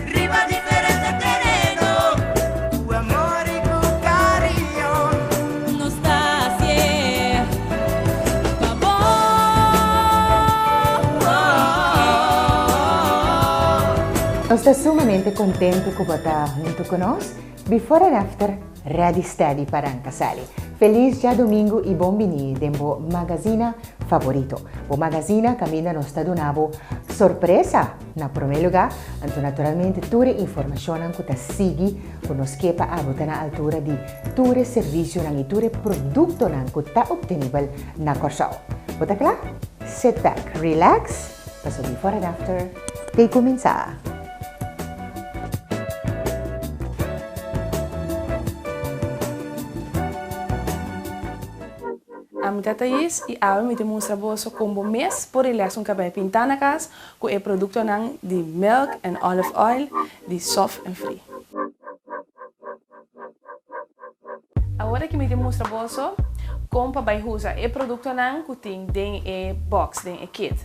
Riba diferente tereno. Cu amor y cu cariño. Nos ta hacié pa bo. Nos ta sumamente contente cu bo ta hunto cu nos. Before and after ready steady pa ranca sali. Feliz Djadomingo y bon bini den bo magazina favorito. Bo magazina caminda nos ta duna bo sorpresa. Na promé lugá, anto naturalmente tur e informashonnan ku ta sigui ku nos ke pa abo ta na altura di tur e servisionan i tur e produktonan ku ta optenibel na Kòrsou. Bo ta kla? Sit back, relax, paso before and after ta e kuminsá! Am gata yes i awe mi te mustra boso kon bo mes por e lèson kab'é pintá na kas, Cu e productonan di milk en olive oil di soft en free. Ahora que mi tin mustra boso con pa bay huza e productonan cu tin den e box, den e kit.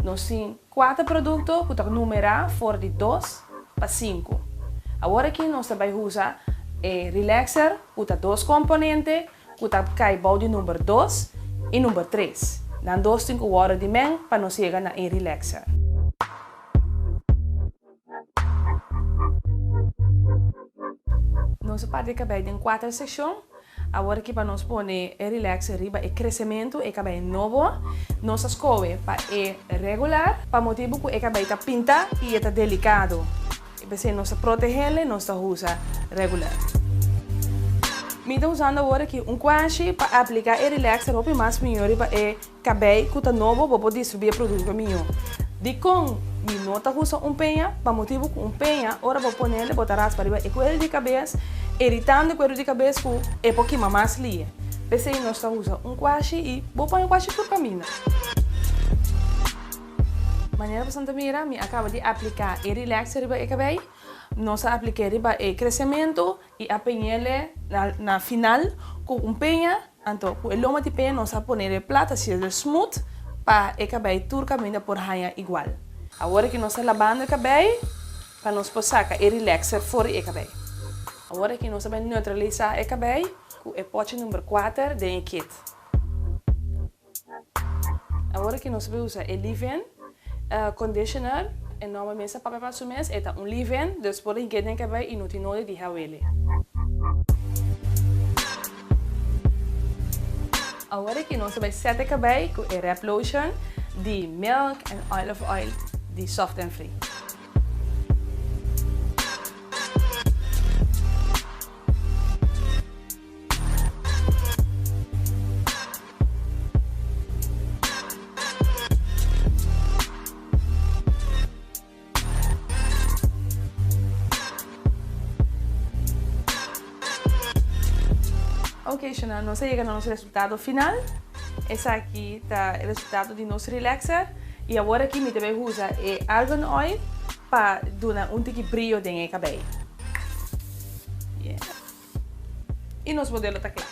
Nos tin cuater producto cu ta numera for di dos pa cinco. Ahora aki nos ta bay huza e relaxer cu ta dos componente cu ta cay bao di number dos y number tres. Nan dos tin cu wordo di men pa nos yega na e relaxer. Nos a parti e cabey den cuater seccion. Awor aki pa nos pone e relaxer riba e crecemento, e cabey nobo. Nos a scoe pa e regular, pa motibo cu e cabey ta pinta y e ta delicado. E p'esei nos ta protehéle, nos ta usa regular. Mi ta usando awor aki un kuashi pa apliká e relaxer hopi mas mihó riba e kabei ku ta nobo pa por distribui e produkto mihó. Dikon mi no ta usa un peña? Pa motibu ku un peña ora bo ponele bo ta raspa riba e kueru di kabes iritando e kueru di kabes ku e por kima mas lie. P'esei nos ta usa un kuashi i bo pon e kuashi tur kaminda. Manera pasobra ta mira, mi a kaba di apliká e Relax riba e kabei, nos a aplik'é riba e Kresementu i a peñ'éle na na final ku un peña, anto ku e loma di peña nos a pone de plata si es del Smooth pa e kabei tur kaminda por haña igual. Awor ki nos ta labando e kabei pa nos por saka e Relaxer for di e kabei. Awor aki nos ta bai neutralisá e kabei ku e pochi number kuater den e kit. Awor ki nos bai usa e leave-in conditioner, e nomber mester papia pa su mes, e ta un leave-in, dus por hik'é den ke bai i no tin nodi di hel wele. Awor ki nos bai sete ke bai ku e rep lotion di milk en olive oil di soft en free. Oke Shana, nos a yega na nos resultado final. Esaki ta e resultado di nos relaxer. I awor aki mi ta bai usa e argan oil pa duna un tiki brio den e cabei. Yeah. Y nos modelo ta cla.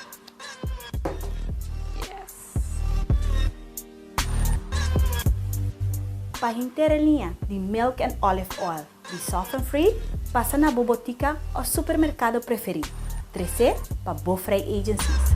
Pa henter e liña di Milk and Olive Oil di Soft and Free, pasa na bo botica o supermercado preferi. Trece pa bo Vrij Agencies.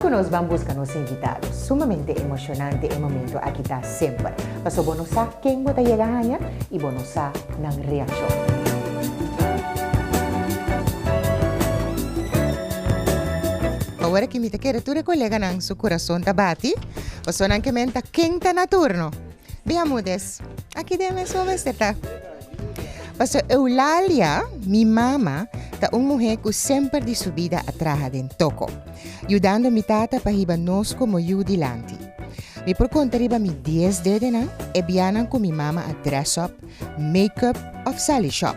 Cu nos ban busca nos invitado. Sumamente emocionante e momento aki ta semper. Paso bo no sa ken bo ta yega haña y bo no sa nan reaccion. Awor aki mi ta kere tur e coleganan su curason ta bati, paso nan ke menta ken ta na turno. Bia mudes, aki den mesón mester ta. Pastor Eulalia, mi mama ta un muhé ku semper di su bida a traha den toko, yudando mi tata pa hiba nos komo yu dilanti. Mi por konta riba mi dies dedenan e bianan ku mi mama a dress up, make up òf sali shòp.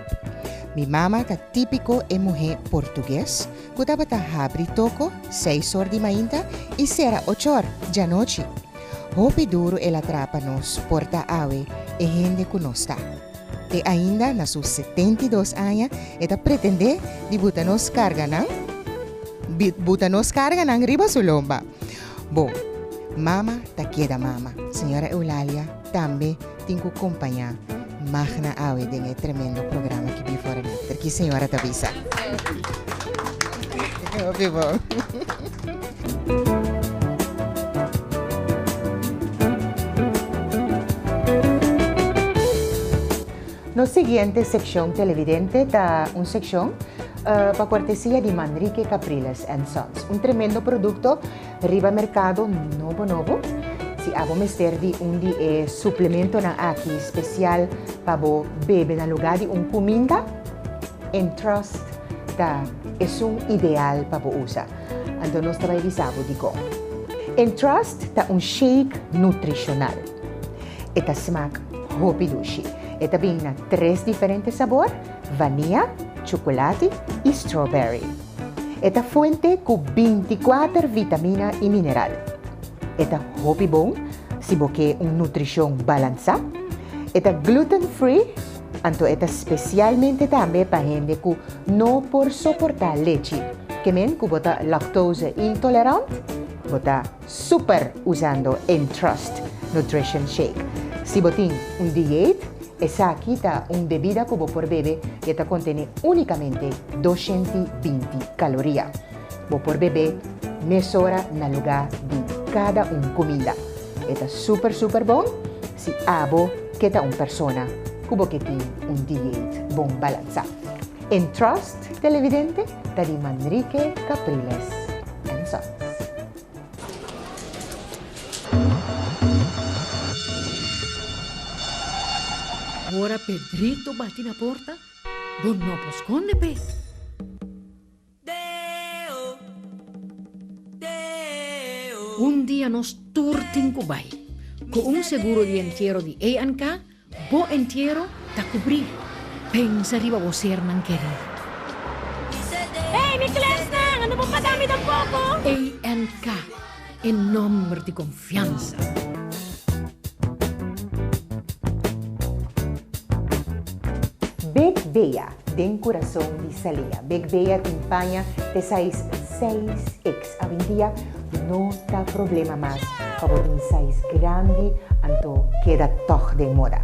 Mi mama ta típiko e muhé portugues ku tabata habri toko seis or di mainta i sera ochor djanochi. Hopi duru el a traha pa nos por ta awe e hende ku nos ta. Te ainda na su setenta i dos aña e ta pretendé di buta nos karganan di buta nos karganan riba su lomba. Bon, mama ta keda mama, señora Eulalia. Tambe tin cu compaña magna awe den e tremendo programa ki bin for a Mister. Ki señora ta bisa? Hopi bon. Nos siguiente seccion televidente ta un seccion pa cortesia di Manrique Capriles and Sons, un tremendo producto. Riba merkado nobo nobo, si abo mester di un di e suplementonan aki spesial pa bo bebe na lugá di un kuminda, Entrust ta esun ideal pa bo usa. Anto nos ta bai bisa bo dikon. Entrust ta un shake nutrishonal. E ta smak hopi dushi. E ta bini na tres diferente sabor, vania, chukulati i strawberry. E ta fuente cu binticuater vitamina y mineral. E ta hopi bon si bo ke un nutricion balansa. E ta gluten free, anto e ta specialmente tambe pa hende cu no por soporta lechi. Ke men cu bo ta lactose intolerant, bo ta. Super usando Entrust Nutrition Shake. Si bo tin un dieet, esaki ta un bebida cu bo por bebe y e ta contene unicamente doscienti binti caloria. Bo por bebe mesora na luga di cada un cumida. E ta super super bon si abo ke ta un persona cu bo ke tin un dieet bon balansa. En Trust Televidente ta di Manrique Capriles and Sons. Ora Pedrito bati na porta, bo no por skonde p'e. Un dia nos tur tin ku bai. Ku un seguro di entiero di ANK, bo entiero ta kubrí. Pensa riba bo sernan kerí. Ey mi klèsnan, ando bo pagami den poko? ANK. E nomber di confiansa. Bek Bea den curason di Salia. Bek Bea tin paña te size seis X. Avindia no ta problema mas pa bo tin size grandi anto keda tog den moda.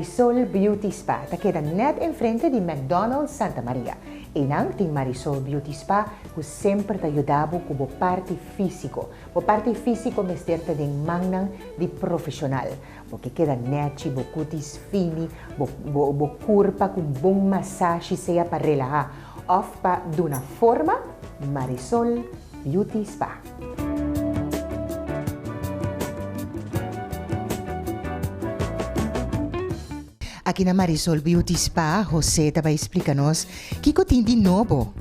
Marisol Beauty Spa ta keda nèt enfrente di McDonald's Santa Maria. Einan tin Marisol Beauty Spa ku semper ta yuda bo ku bo parti físiko. Bo parti físiko mester ta den mannan di profeshonal. Bo ke keda nechi, bo kutis fini, bo kurpa ku un bon masashi sea pa relahá òf pa duna forma? Marisol Beauty Spa. Aki na Marisol Beauty Spa, Jose ta bai splika nos kiko tin di nobo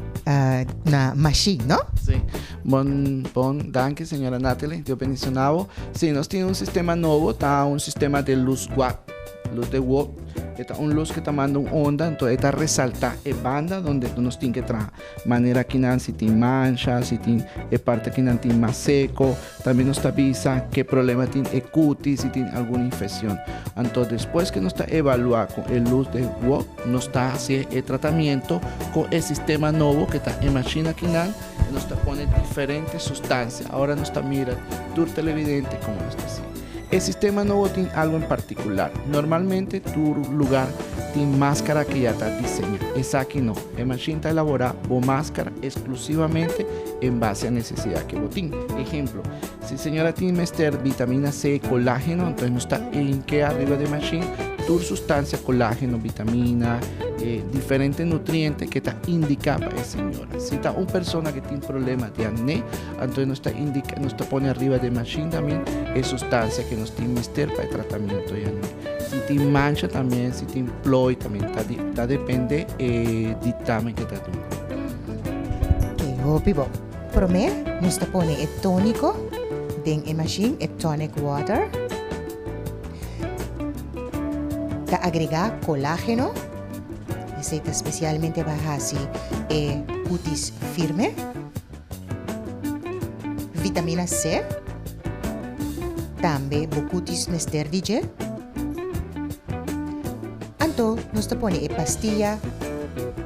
na mashin, no? Si. Bon, bon, danki señora Nathalie, Dios bendiciona bo. Si, nos tin un sistema nobo, ta un sistema de luz guap, luz de wop. E ta un luz ke ta manda un onda, enton e ta resalta e banda donde nos tin ke traha. manera ki nan si tin mansha, si tin e parti ki nan tin mas seko, tambe nos ta bisa ke problema tin e kuti, si tin algun infekshon. Anto despues ke nos ta evaluá ku e lus den wòk, nos ta hasié e tratamiento ku e sistema nobo ke ta e mashina ki nan i nos ta pone diferente sustansia. Awor nos ta mira tur televidente komo nos ta si e sistema nobo tin algu en partikular. Normalmente tur lugar tin maskara ke ya ta diseñá, esaki no. E mashin ta elaborá bo máskara esklusivamente en base a nesesidat ke bo tin. Ehemplo, si señora tin mester bitamina C, kolágeno, anto nos ta enk'é ariba di e mashin tur sustansia kolágeno, bitamina, e diferente nutriente ke ta indiká pa e señora. Si ta un persona ke tin problema di akné, anto nos ta indiká, nos ta pone ariba di e mashin tambe e sustansia ke nos tin mester pa e tratamiento di akné. Si tin mancha también si tin plooi también ta depende e dictamen ke ta duna. Ke hopi bo. Prome nos ta pone e tonico den e machine e tonic water ta agrega colageno esey ta specialmente ba haci e cutis firme. Vitamina C, tambe bo kutis mester di dje. Anto nos ta pone e pastia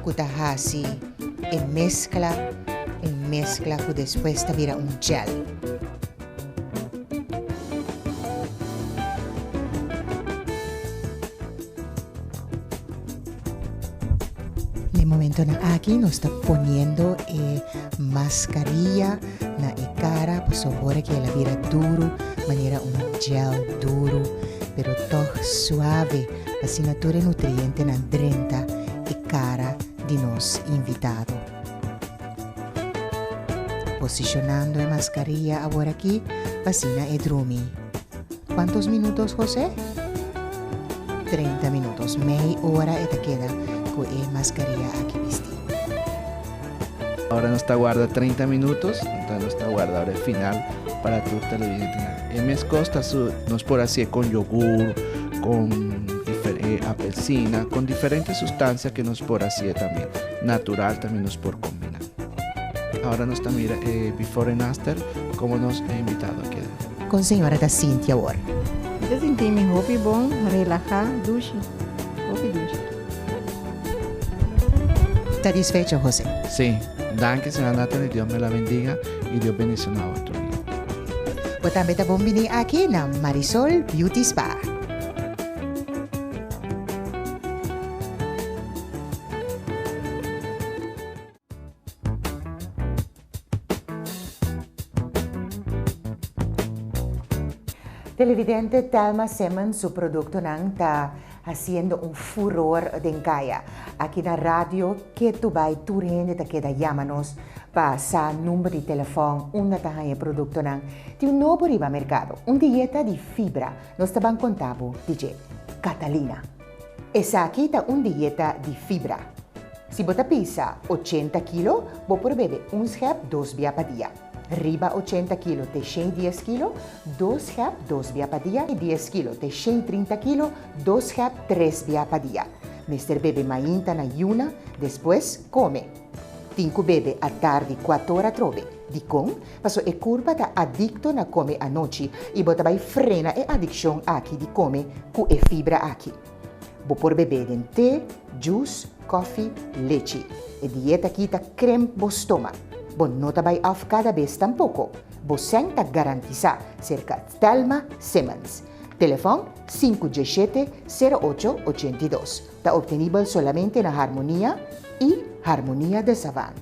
ku ta hasi e meskla, un meskla ku despues ta bira un jel. Momentonan aki nos ta poniendo e mascarilla na e cara pasobra ora ke el a bira duru manera un gel duru pero tog suave pa asina tur e nutrientenan drenta e cara di nos invitado. Posicionando e mascarilla aworakí asina e drumi. Kuantos minutos José? Treinta minutos, mei ora e ta keda ku e mascarilla aki bistí. Ora nos ta warda treinta minutos, enton nos ta warda ora e final para tur televidentenan. E mes kos ta su, nos por hasié kon yogur, kon e apelsina, kon diferente sustansia ke nos por hasié tambe. Natural tambe nos por combina. Ahora nos ta mira e before en after como nos e invitado a keda. Con señora ta sinti awor? Mi ta sinti mi hopi bon, relaha, dushi. Hopi dushi. Satisfecho Jose? Si. Danki señora Natalie Dios me la bendiga y Dios bendiciona awor tur. Bo tambe ta bon bini aki na Marisol Beauty Spa. Televidente Thelma Simmons su produktonan ta hasiendo un furor den kaya. Aki na radio Ketu Bai tur hende ta keda yama nos pa sa number di telefòn unda ta haña e produktonan. Tin un nobo riba merkado, un dieta di fibra. Nos ta ban konta bo di dje. Catalina. Esaki ta un dieta di fibra. Si bo ta pisa ochenta kilo, bo por bebe un schep dos bia pa dia. Riba ochenta kilo te shei dies kilo, dos schep dos bia pa dia, i dies kilo te shei trinta kilo, dos schep tres bia pa dia. Mester bebe mainta na yuna, despues kome. Tin cu bebe a tar di cuatora atrobe. Dicon? Paso e curpa ta adicto na come anochi y bo ta bay frena e adiccion aki di come cu e fibra aki. Bo por bebe den te, jus, cofi, lechi. E dieta aki ta crimp bo stoma. Bo no ta bay af cada bes tampoco. Bo seng ta garantisa, cerca Thelma Simmons. Telefon, sinku djeshete, sero ocho, ochenta i dos. Ta obtenibel solamente na Harmonia y Harmonia de Savan.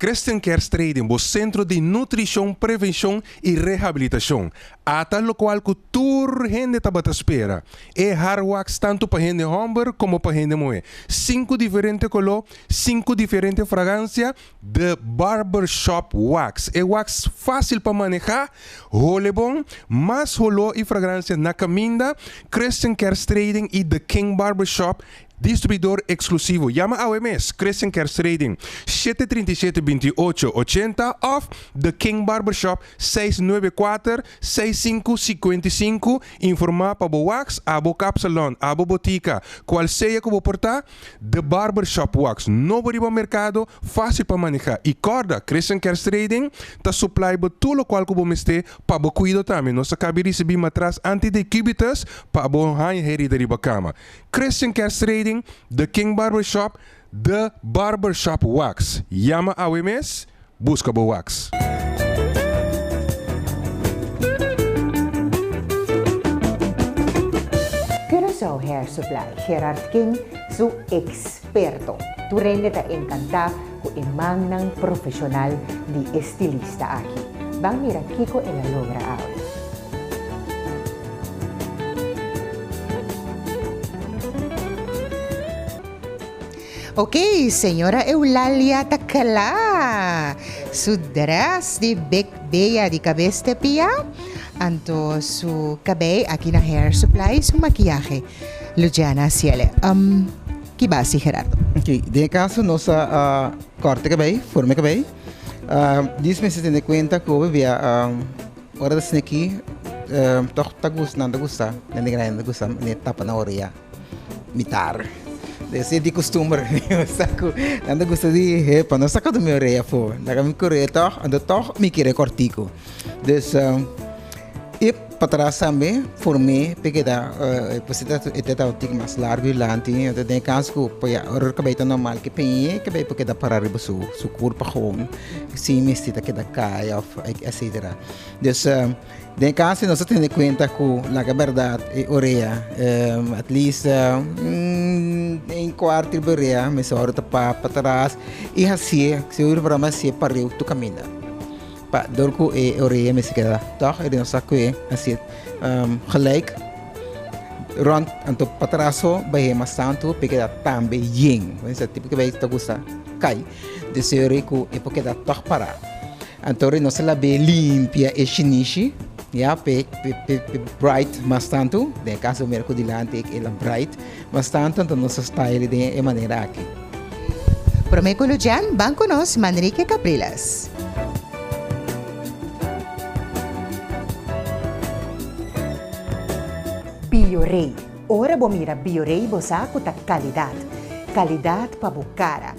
Christian Care Strading, bo centro di nutricion, prevencion y rehabilitacion. Ata locual cu tur hende tabata spera. E Hard Wax tanto pa hende homber como pa hende muhe. Cinco diferente color, cinco diferente fragancia, The Barber Shop Wax, e wax fácil pa manehá, hole bon, mas holó i fragransia na kaminda, Christian Kerstrading i The King Barber Shop, distribuidor eksklusivo. Yama awe mes Christian Kerstrading, shete trinta i shete binti i ocho ochenta òf The King Barber Shop, seis nuebe kuater seis sinku sikuenta i sinku, informá pa bo wax, abo kapsalòn, abo botika, kualsea ku bo por ta. The Barber Shop Wax no bo riba merkado, fásil pa manehá i kòrda, Christian Kerstrading ta suplai bo tur lokual ku bo mester pa bo kuido tambe. Nos ta kabi risibí matras anti-decubitus pa bo haña herida riba kama. Christian Kerstrading, The King Barber Shop, The Barber Shop Wax. Yama awe mes Buska bo wax. Curaçao Hair Supply, Gerard King su experto. Tur hende ta encantá cu e mannan profesional di estilista aki. Ban mira kico el a logra awe. Ok, señora Eulalia ta cla. Su dress di big bea di cabes te pia, anto su cabei aki na Hair Supply y su maquiahe Luciana Ciele. Um, ki basi Gerardo? Ok, den e caso nos ta corta e cabei, forma e cabei. Um, dis mester tene cuenta cu hopi bia um ora ta sne aki um toch ta gus, nan ta gusta, nen di grandi nan ta gusta, mane tapa na orea. Mi tarde. Debe ser di costumber mio sa cu nan ta gusta di he pa no saca tu mi orea afo. Nan a mi coreo tog, anto tog mi kere cortico. Dus i patras tambe for me ta keda e ta tabatin mas largo y lanti y nan ta den e kans cu paya ora cu cabey ta normal ke peñe y cabey por keda para riba su curpa hoon sin mester ta keda caya of etcetera. Dus. Den e caso nos ta tene cuenta cu laga berdad e orea at least een cuart riba e orea mester ora ta pa ataras y haci'e si ora programa haci'e pariu tu caminda pa dor cu e orea mester keda tog y nos a cue haci'e gelijk rond anto pa atras so bahi'e mas tanto pe keda tambe yen esaki ta gusta cay desiori cu e por keda tog para. Anto ri nos a labe limpia e shinishi, ya, p'e bright mas tantu. Den e kaso mira ku dilanti e el a bright mas tantu, anto nos a style den e manera aki. Promé ku Lucian, ban ku nos Manrique Capriles. Biorei, ora bo mira Biorei bo sa ku ta kalidat. Kalidat pa bo kara,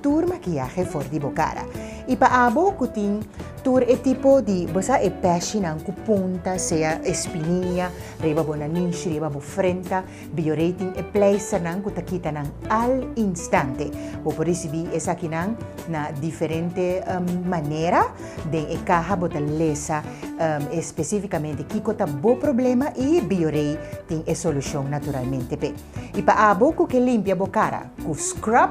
tur makiahe for di bo kara. I pa abo ku tin tur e tipo di, bo sa e peshinan ku punta, sea espiniña, riba bo nanish, riba bo frenta, Bioré tin e pleisternan ku ta kita nan al instante. Bo por risibí esakinan na diferente manera. Den e kaha bo ta lesa espesífikamente kiko ta bo problema i Bioré tin e solushon naturalmente p'e. I pa abo ku ke limpia bo kara. Ku scrub,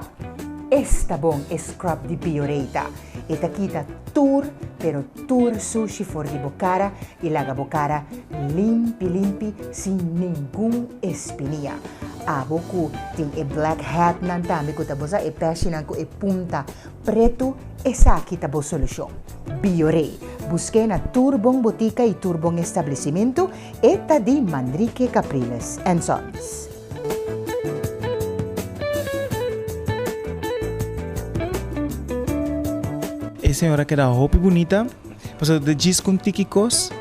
esta bon e scrub di Bioreta. E ta kita tur pero tur sushi for di bo kara i laga bo kara limpi limpi sin ningun espinia. Abo ku tin e black head nan tambe ku ta bo sa e peshinan ku e punta pretu esaki ta bo solushon. Biore, busk'e na tur bon botika i tur bon establesimentu, e ta di Manrique Capriles and Sons. E señora keda hopi bunita. Pasobra bo ta djis ku un tiki kos,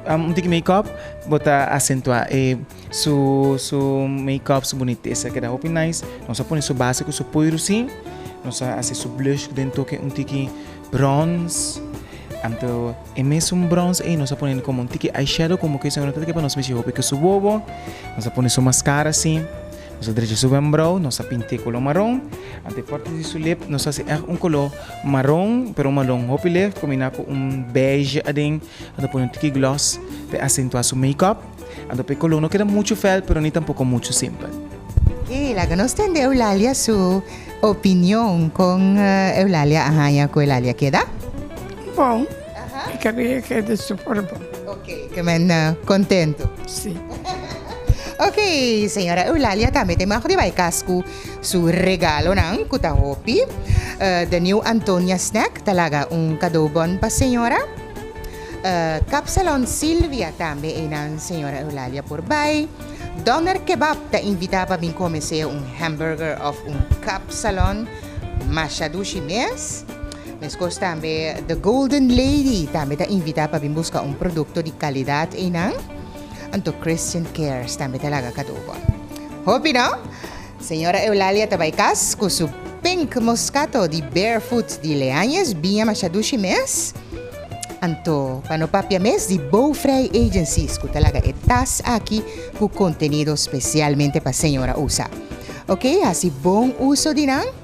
un tiki makeup, bo ta asentuá e su su makeup, su bunitesa keda hopi nice. Nos a pone su base ku su poi rosí, nos a hasi su blush den toke un tiki bronce. Anto. E mesun brons ei nos a pone komo un tiki eyeshadow komo ke señora ta tiki pa nos mishi hopi ke su bobo, nos a pone su maskara si, nos a drecha su wembrou, nos a pint'e koló maron, anto e párti di su lip nos a hasi ègt un koló maron pero un malon hopi lègt kombiná ku un beige aden, nos a pone un tiki gloss p'e asentuá su makeup. Anto p'e color no keda mucho fel pero ni tampoco mucho simpel. Ok, laga nos tende Eulalia su opinion con Eulalia a haña cu Eulalia keda. Bon, e cabello keda super bon. Ok, ke men contento. Si. Ok, señora Eulalia tambe te mag di bay cas cu su regalonan cu ta hopi. The New Antonia Snack ta laga un cadeau bon pa señora. Kapsalon Silvia tambe einan señora Eulalia por bai. Doner Kebab ta invitá pa bin kome sea un hamburger òf un kapsalon masha dushi mes. Meskos tambe The Golden Lady tambe ta invitá pa bin buska un produkto di kalidat einan. Anto Christian Cares tambe ta laga kadó bo. Hopi no! Señora Eulalia ta bai cas cu su pink moscato di Barefoot di Leañez, biña masha dushi mes. Anto, pa no papia mes di Bouwvrij Agencies cu ta laga e tas aki cu contenido specialmente pa señora usa. Ok, haci bon uso di nan.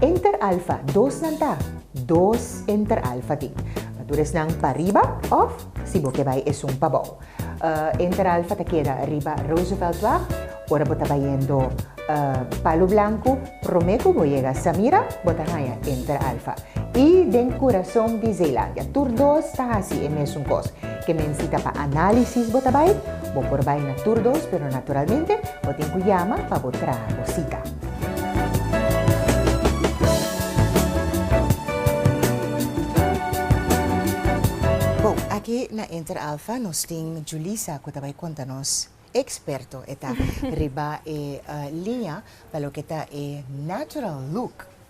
Enter alfa, dosnan ta, dos enter alfa tin. Pa tur esnan pa riba òf, si bo ke bai esun pa bou. Enter alfa ta keda riba Rooseveltweg. Ora bo ta bayendo Palu Blanku, promé ku bo yega Samira, bo ta haña enter alfa. I den kurason di Zeelandia tur dos ta hasi e mesun kos. Ke menti ta pa análisis bo ta bai? Bo por bai na tur dos, pero naturalmente bo tin ku yama pa bo traha bo sita. Bo, aki na Inter Alfa nos tin Julissa ku ta bai konta nos, eksperto e ta, riba e liña pa loke ta e natural look.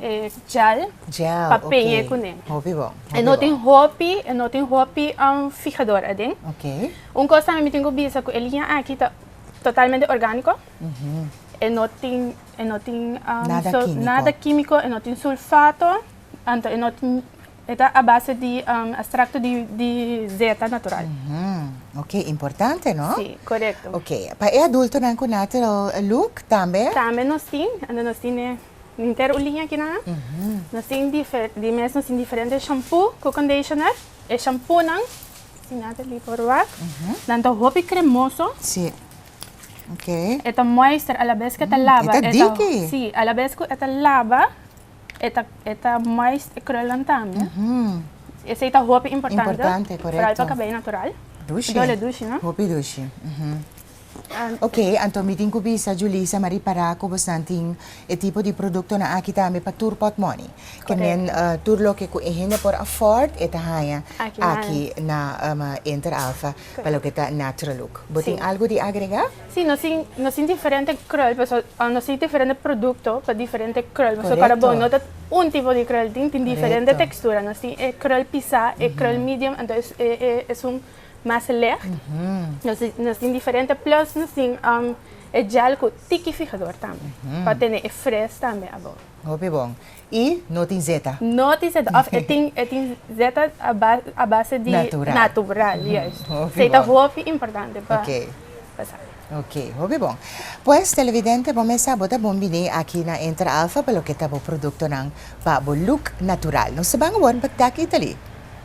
e gel, gel pa peñe kuné. Hopi bon. E no tin hopi, e no tin hopi um fijador aden. Okay. Un kos tambe mi tin ku bisa ku e liña aki ta totalmente orgániko. Mm -hmm. E no tin, e no tin um, nada, so, kímiko. nada kímiko, e no tin sulfato, anto e no tin e ta a base di um, extracto di, di zeta natural. Mm -hmm. Ok, importante, no? Sí, correcto. Ok, pa e adultonan ku natural look tambe? Tambe nos tin, anto nos tin e Inter un liña akinan nos tin di mes nos tin diferente shampu ku conditioner. E shampunan si Nathalie por wak nan ta hopi kremoso e ta moister alabes ku e ta laba si alabes ku e ta laba e ta moist e krul nan tambe esei ta hopi importante foral pa kabei natural dole dushi no. Okay, anto mi tin cu bisa Julissa ma ripara cu bosnan tin e tipo di productonan aki tambe pa tur pot money. Ke men tur loke cu e hende por afford e ta haya aki na Inter Alfa pa loke ta natural look. Bo tin algo di agrega? Si, nos tin nos tin diferente krul paso nos tin diferente producto pa diferente krul paso para bo no ta un tipo di krul tin tin diferente textura nos tin e krul pisa e krul medium anto esun Mas licht, nos tin diferente plus nos tin e gel cu tiki fijador tambe pa tene e fris tambe abao. Hopi bon. Y no tin zeta. No tin zeta of e tin e tin zeta a base di natural juist. Esey ta hopi importante pa sa. Ok, hopi bon. Pues televidente bo mesa bo ta bon bini aki na Entra Alfa pa loke ta bo productonan pa bo look natural. Nos ta ban awor pa taki tali.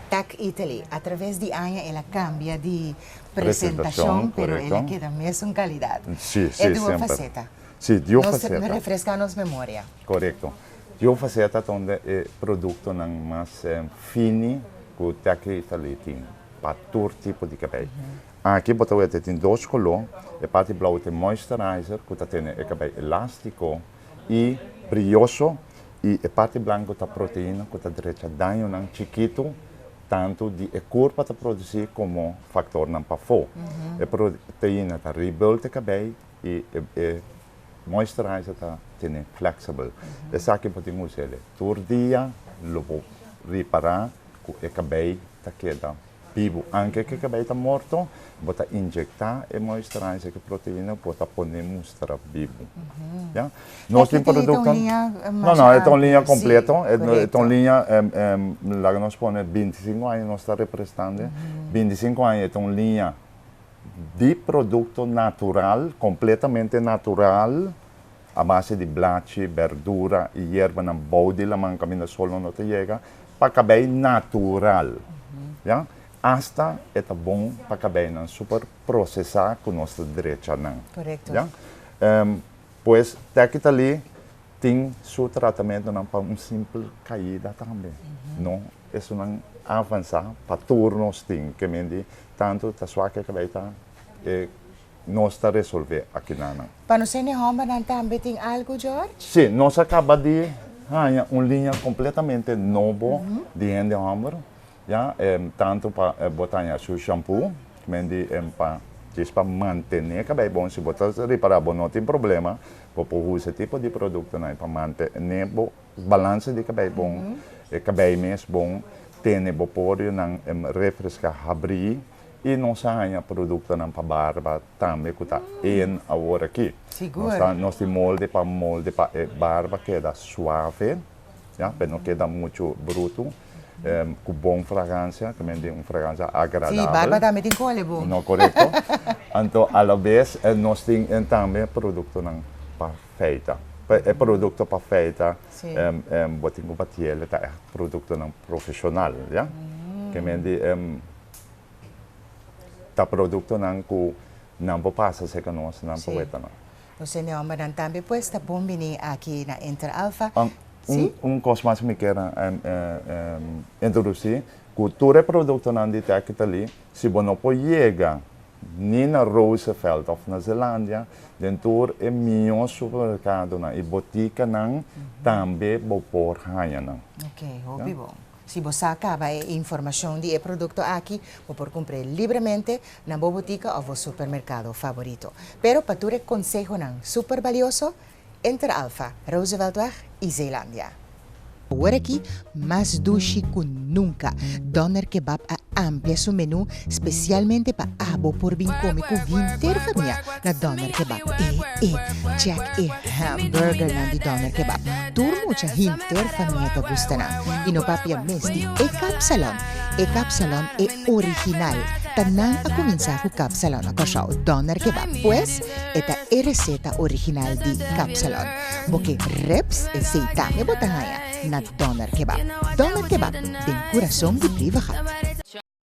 Tag Italy. A traves di aña el a cambia di presentacion, pero el a keda mesun calidad. E duo faceta. Nos refresca nos memoria. Corecto. Duo faceta ta un di e productonan mas fini cu Tag Italy tin pa tur tipo di cabei. Aki bo ta wet e tin dos color, e parti blauw ta e moisturizer cu ta tene e cabei elastico. i brioso i e parti blanco ta proteina cu ta drecha dañonan chikitu tantu di e kur pa ta produci como factornan pafo. E proteina ta rebuild e cabei i e moisturizer ta tene flexible. Esaki bo tin usa el tur dia lo bo ripara cu e cabei ta keda Bibu. Anke ke kabei ta morto, bo ta inyekta e moisturizer ku proteina ku bo ta pone mustra bibu. Ya. Nos tin produktonan. Esta ta un liña mas amplio. No, no, e ta un liña kompleto. Si, korekto. E ta un liña, laga nos pone binti sinku aña nos ta representando. Binti sinku aña e ta un liña di produkto natural, kompletamente natural, a base di blachi, berdura y yerbanan bou di laman caminda sol no no ta yega, pa cabei natural. Ya. Hasta e ta bon pa cabeinan super procesa cu nos ta drecha nan. Correcto. Ya. Ehm, pues Tecitaly tin su tratamentonan pa un simple caida tambe. No, esonan a avansa pa tur nos tin. Ke men di tanto ta suak e cabei ta e nos ta resolve akinanan. Pa nos hende hòmbernan tambe tin algu, George? Sí, nos a kaba di haña un liña kompletamente nobo di hende hòmber, ya. Tantu pa bo ta haña su shampoo, men di pa djis pa mantené kabei bon. Si bo ta ripará, bo no tin problema. Bo por usa e tipo di produktonan pa mantené bo balanse di kabei bon, e kabei mes bon. Tene bo porionan refreská, habrí, y nos a haña productonan pa barba tambe cu ta in awor aki. Sigur. Nos tin molde pa molde pa e barba keda suave, ya, p'e no keda mucho bruto, cu bon fragancia, ta mende un fragancia agradabel. Si, barba tambe tin cu ole bon. No, corecto. Anto a la vez nos tin tambe productonan pa feita. P'e e producto pa feita bo tin cu batiel ta echt productonan profesional, ya. Ta mende ta productonan cu nan por pasa seca nos, nan por weta nan. Nos e mi hombernan tambe pues ta bon bini aki na Inter Alfa. Si? Un cos mas cu mi kier introduci, cu tur e productonan di te aki ta li, si bo no por yega ni na Roosevelt of na Zelandia, den tur e mihor supermercadonan y boticanan tambe bo por haya nan. Ok, hopi bon. Si bo sa caba e informacion di e producto aki, bo por cumpre libremente na bo butica of bo supermercado favorito. Pero pa tur e consehonan super balioso, enter Alfa, Rooseveltweg y Zeelandia. Awor aki mas dushi cu nunca, Doner Kebab a amplia su menu Specialmente pa abo por bin come cu henter famia na Doner Kebab e e check e hamburger nan di Doner Kebab tur mucha henter famia ta gusta nan y no papia mes di e kapsalon e kapsalon e original ta nan a cuminsa cu kapsalon na Kòrsou Doner Kebab pues e ta e receta original di kapsalon bo ke rips esey tambe bo ta haya na Doner Kebab Doner Kebab den curason di Beavergat.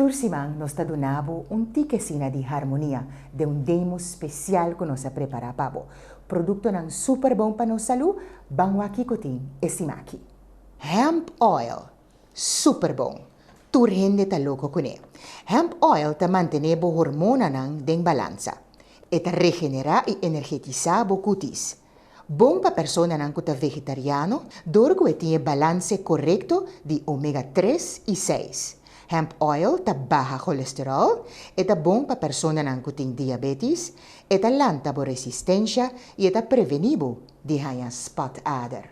Tur siman nos ta duna bo un tik esina di harmonia den un demo spesial ku nos a prepará pa bo. Produktonan super bon pa nos salú, ban wak kiko tin e sima aki. Hemp oil. Super bon! Tur hende ta loko kuné. Hemp oil ta mantené bo hormonanan den balansa. E ta regenerá i energetisá bo kutis. Bon pa personanan ku ta vegetariano dor ku e tin e balanse korekto di omega tres i seis. Hemp oil ta baha cholesterol, e ta bon pa personanan ku tin diabetis, e ta lanta bo resistensha i e ta prevení bo di haña spot ader.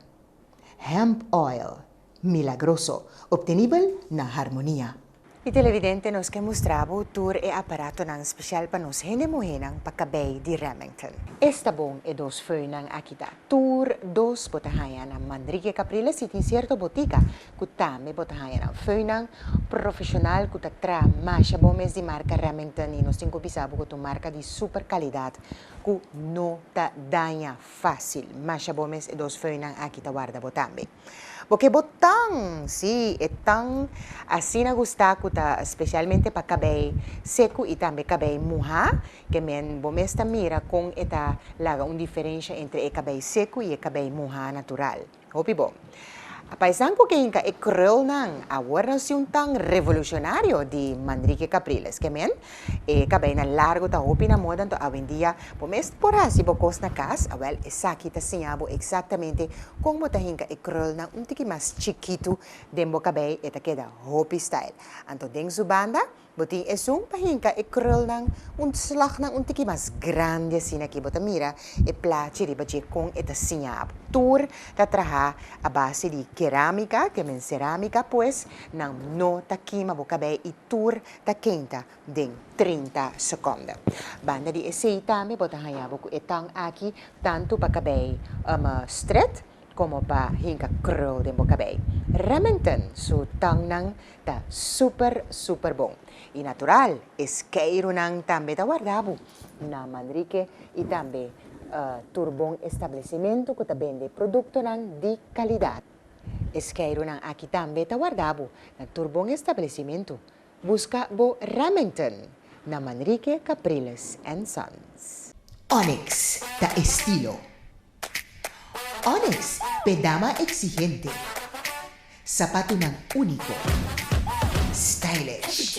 Hemp oil milagroso obtenibel na Harmonia. Mi televidente nos ke mustra bo tur e aparatonan special pa nos hende muhénan pa kabei di Remington. Esta bon e dos feunnan aki ta. Tur dos bo ta haña na Manrique Capriles si tin cierto botica cu tambe bo ta haña nan feunnan profesional cu ta tra masha bon mes di marca Remington y nos tin cu bisa bo cu ta un marca di super calidad cu no ta daña Fácil, masha bo mes e dos föinan aki ta warda bo tambe. Bo ke bo tan, sí, e tan asina gustá ku ta spesialmente pa kabei seku i tambe kabei muhá, ke men bo mes ta mira kon e ta laga un diferensha entre e kabei seku i e kabei muhá natural. Hopi bo. A paisan cu kinka e creolnan a wornan si un tan revolucionario di Manrique Capriles. Ke men, e cabeina largo ta hopi na moda anto awendia bo mes por haci bo cos na cas. Awel, esaki ta siña bo exactamente con bo ta hinka e creolnan un tiki mas chikitu den bo cabei e ta keda hopi style. Anto den su banda, Bo tin esun pa hinka e krulnan un slag nan un tiki mas grandi asina aki bo ta mira e plachi riba dje kon e ta siña abo. Tur ta traha a base di keramika, te men seramika pues nan no ta kima bo kabei i tur ta kenta den trinta sekonda. Banda di esei tambe bo ta haña bo ku e tang aki tantu pa kabei strèt, como pa hinca krul den bo cabey. Remington su tangnan ta super super bon y natural e skeirunan tambe ta warda bo na Manrique y tambe tur bon establecimento cu ta bende productonan di calidad. E skeirunan aki tambe ta warda bo na tur bon establecimento. Busca bo Remington na Manrique Capriles and Sons. Onyx ta estilo. Onyx p'e dama exigente. Sapatunan unico. Stylish.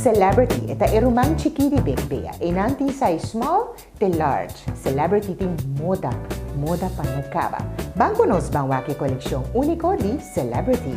Celebrity e ta e ruman chikí di Big Bea. Einan tin size small te large. Celebrity tin moda, moda pa no kaba. Ban ku nos ban wak e kolekshon úniko di Celebrity.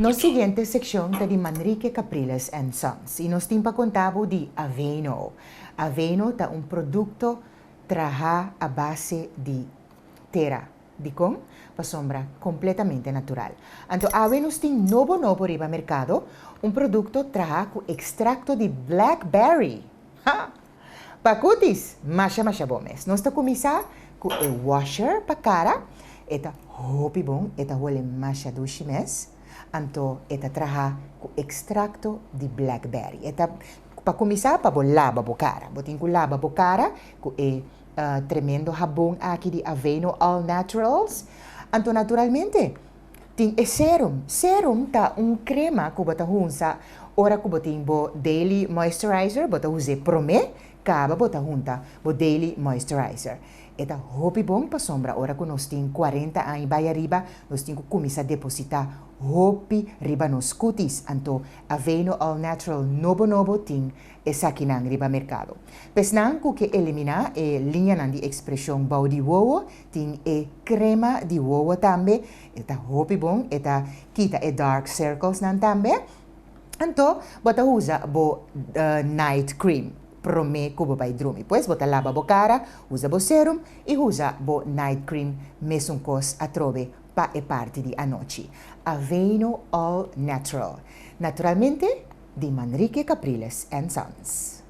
Nos siguiente seccion ta di Manrique Capriles and Sons y nos tin pa conta bo di Aveno. Aveno ta un producto traha a base di tera. Dicon? Pasobra completamente natural. Anto awe nos tin nobo nobo riba mercado, un producto traha cu extracto di blackberry! Ha! Pa kutis, masha masha bon mes. Nos ta kuminsá ku e washer pa kara, e ta hopi bon, e ta hole masha dushi mes. Anto e ta traha ku ekstrakto di blackberry. E ta, pa kuminsá pa bo laba bo kara. Bo tin ku laba bo kara ku e tremendo habon aki di Aveeno All Naturals. Anto naturalmente. Tin e serum. Serum ta un crema cu bo ta hunsa ora cu bo tin bo daily moisturizer, bo ta hus'e prome caba bo ta hunta bo daily moisturizer. E ta hopi bon pasobra ora cu nos tin cuarenta aña bay ariba nos tin cu cuminsa deposita hopi riba nos cutis anto Aveeno All Natural nobo nobo tin esakinan riba mercado. P'esnan cu ke elimina e liñanan di expresion bou di wowo Tin e crema di wowo tambe, e ta hopi bon, e ta kita e dark circles nan tambe. Anto bo ta usa bo night cream prome cu bo bay drumi. Pues bo ta laba bo cara, usa bo serum y usa bo night cream mesun cos atrobe pa e parti di anochi. Aveeno All Natural. Naturalmente di Manrique Capriles and Sons.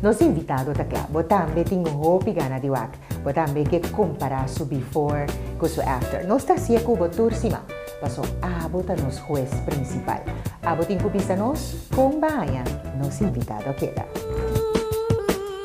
Nos invitado ta kla, bo tambe tin hopi gana di wak. Bo tambe ke kompara su before ku su after. Nos ta hasi'e ku bo tur siman, paso abo ta nos hues prinsipal. Abo tin ku bisa nos kon bahaña nos invitado keda.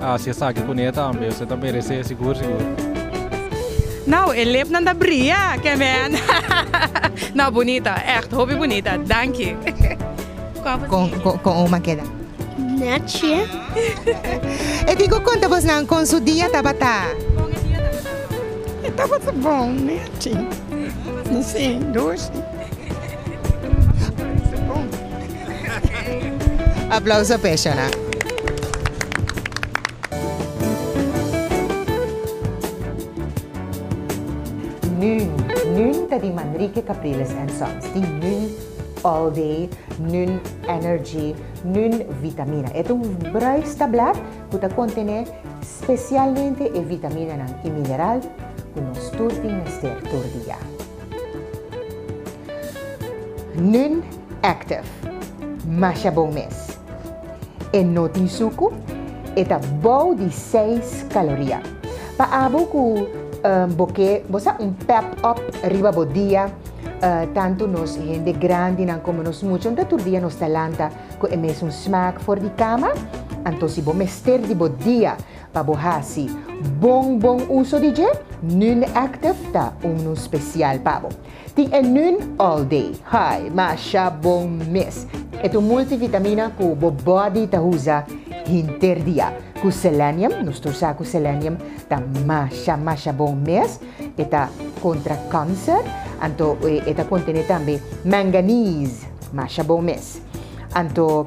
A hasi esaki cu ne tambe. Usted ta merece sigur sigur. Nau e lep nan ta bria ke men nau bunita echt hopi bunita danki. Con oma keda. Netje. E tin cu conta bos nan con su dia tabata. Con e dia tabata bon. E tabata bon netje. Sin dushi. Aplauso p'e escenario. Nun, Nun ta di Manrique Capriles and Sons, di Nun All Day, Nun Energy, Nun Vitamina. E ta un bruis tablat cu ta contené specialmente e vitaminanan y mineral cu nos tur tin mester tur dia. Nun. Active. Masha bon mes. E no tin suku, e ta bou di seis kaloria. Pa abo ku bo ke bo sa un pep up riba bo dia, tantu nos hende grandinan komo nos muchanan ta tur dia nos ta lanta ku e mesun smak for di kama. Anto si bo mester di bo dia pa bo hasi bon bon uso di dje, Nun Active ta un nun spesial pa bo. Tin e nun all day high masha bon mes. E tu multivitamina cu bo body ta usa hinter dia. Cu selenium, nos ta usa cu selenium ta masha masha bon mes. E ta contra cancer anto e ta contene tambe manganese, masha bon mes. Anto.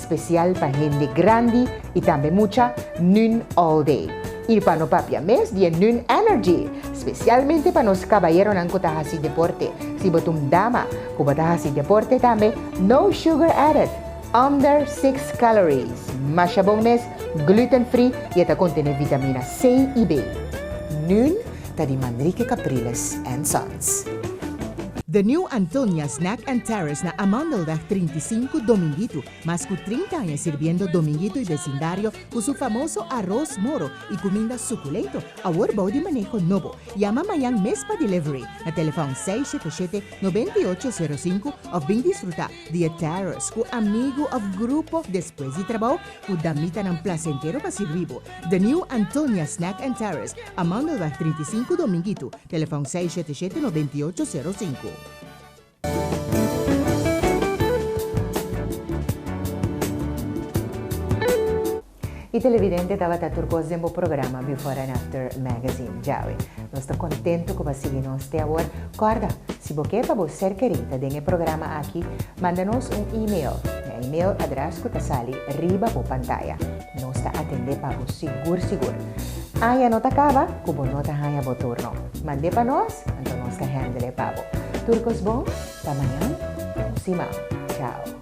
Special pa hende grandi y tambe mucha Nun All Day. Y pa no papia mes di e Nun Energy. Specialmente pa nos cabayeronan cu ta haci deporte. Si bo ta un dama cu bo ta haci deporte tambe, no sugar added, under six calories, masha bon mes, gluten free y e ta contene vitamina C y B. Nun ta di Manrique Capriles and Son. The New Antonia Snack and Terrace na Amandelweg trinta i sinku Dominguito, mas ku trinta aña sirbiendo Dominguito i besindario ku su famoso aros moro i kuminda sukulento, awor bou di maneho nobo. Yama mañan mes pa delivery na telefòn seis shete shete, noventa i ocho sero sinku òf bin disfrutá di e terrace ku amigu òf grupo despues di trabou ku damitanan plasentero pa sirbi bo. The New Antonia Snack and Terrace, Amandelweg trinta i sinku Dominguito. Telefon seis shete shete nobenta i ocho sero sinku. E televidente tabata tur kos den bo programa Before and After Magazine. Djawe. Nos ta kontento ku bo a sigui nos te awor. Kòrda, si bo ke pa bo ser keri ta den e programa aki, manda nos un email na e email adrès ku ta sali riba bo pantaya. Nos ta atendé pa bo sigur sigur. Aña no ta caba cu bo no ta haña bo turno. Mandé pa nos, anto nos ta handle pa bo. Tur cos bon, ta mañan, bon siman. Chao.